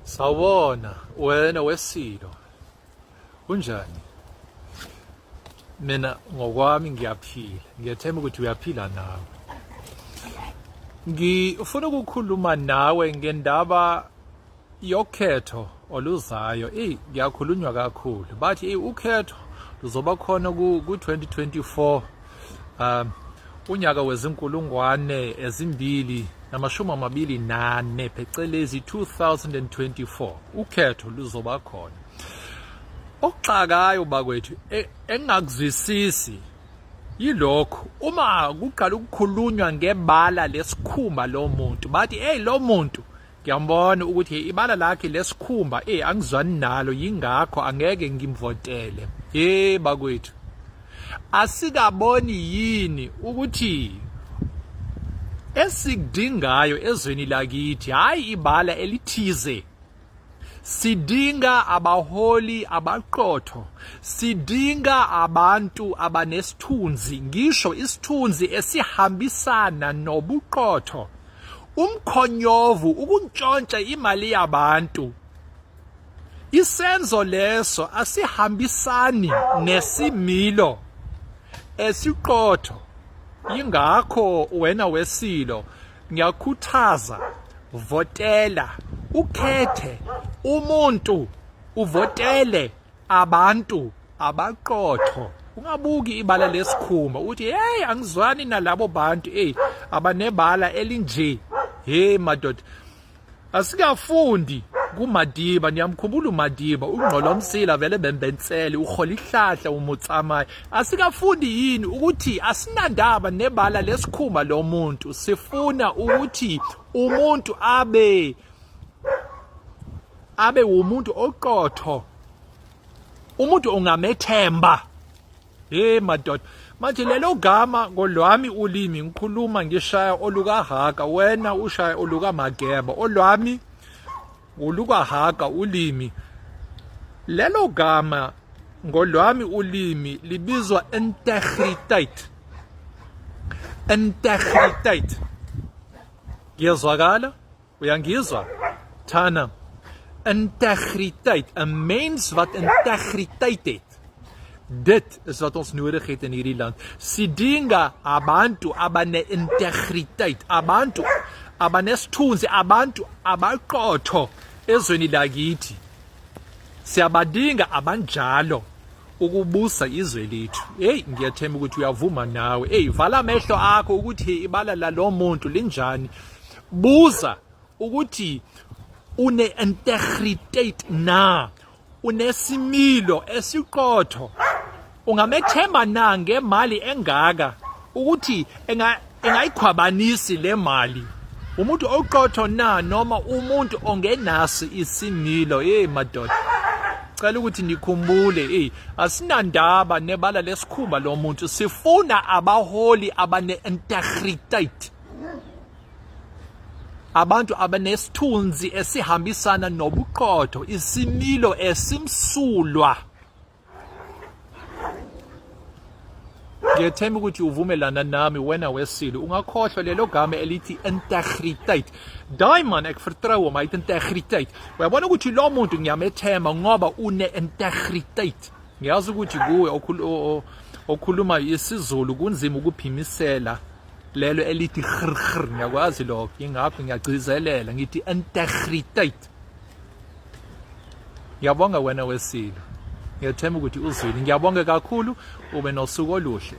Sawona wena wesilo kunjani mina ngokwami ngiyaphila ngiyathemba ukuthi uyaphila nawe ngifuna ukukhuluma nawe ngendaba yokhetho oluzayo eyi ngiyakhulunywa kakhulu bathi eyi ukhetho luzoba khona ku-2024 um unyaka wezinkulungwane ezimbili namashumi amabili nane phecelezi 2024 ukhetho luzoba khona okuxakayo bakwethu e, engakuzwisisi yilokho uma kuqala ukukhulunywa ngebala lesikhumba lomuntu bathi hey lo muntu Ngiyambona ukuthi ibala lakhe lesikhumba eh angizwani nalo yingakho angeke ngimvotele. Hey bakwethu. Asikaboni yini ukuthi esikudingayo ezweni lakithi hayi ibala elithize sidinga abaholi abaqotho sidinga abantu abanesithunzi ngisho isithunzi esihambisana nobuqotho umkhonyovu ukuntshontsha imali yabantu isenzo leso asihambisani nesimilo esiqotho ingakho wena wesilo ngiyakhuthaza votela ukhethe umuntu uvotele abantu abaqotho ungabuki ibala lesikhumba uthi hey angizwani nalabo bantu hey abanebala elinje hey madoda asikafundi kumadiba niyamkhumbula umadiba ungqolomsila vele bembensele uhola ihlahla umutsamaye asikafundi yini ukuthi asinandaba nebala lesikhumba lomuntu sifuna ukuthi umuntu abe abe wumuntu oqotho umuntu ungamethemba hey madoda manje lelo gama ngolwami ulimi ngikhuluma ngishaya olukahaka wena ushaya olukamageba olwami olukahaka ulimi lelo gama ngolwami ulimi libizwa integriteit integriteit ngiyezwakala Uyangizwa? Thana integriteit, 'n mens wat integriteit het. Dit is wat ons nodig het in hierdie land. Sidinga abantu abane integriteit, abantu abanesithunzi, abantu abaqotho ezweni lakithi. Siyabadinga abanjalo ukubusa izwe lethu. Hey, ngiyathemba ukuthi uyavuma nawe. Hey, vala amehlo akho ukuthi ibala lalomuntu linjani. Buza ukuthi une integrity na unesimilo esiqotho ungamethemba na ngemali engaka ukuthi enga engayikhwabanisi le mali umuntu oqotho na noma umuntu ongenasi isimilo hey madoda cela ukuthi nikhumbule hey asinandaba nebala lesikhumba lo muntu sifuna abaholi abane integrity abantu abanesithunzi esihambisana nobuqotho isimilo esimsulwa ngiyethemba ukuthi uvumelana nami wena wesile ungakhohlwa lelo gama elithi integriteit daai man ek vertrou hom hy het integriteit uyabona ukuthi lo muntu ngiyamethemba ngoba une integriteit ngiyazi ukuthi kuwe okhuluma isizulu kunzima ukuphimisela lelo elithi grgr ngiyakwazi lokho ngingaphi ngiyagcizelela ngithi integriteit ngiyabonga wena wesilo ngiyethemba ukuthi uzwile ngiyabonga kakhulu ube nosuku oluhle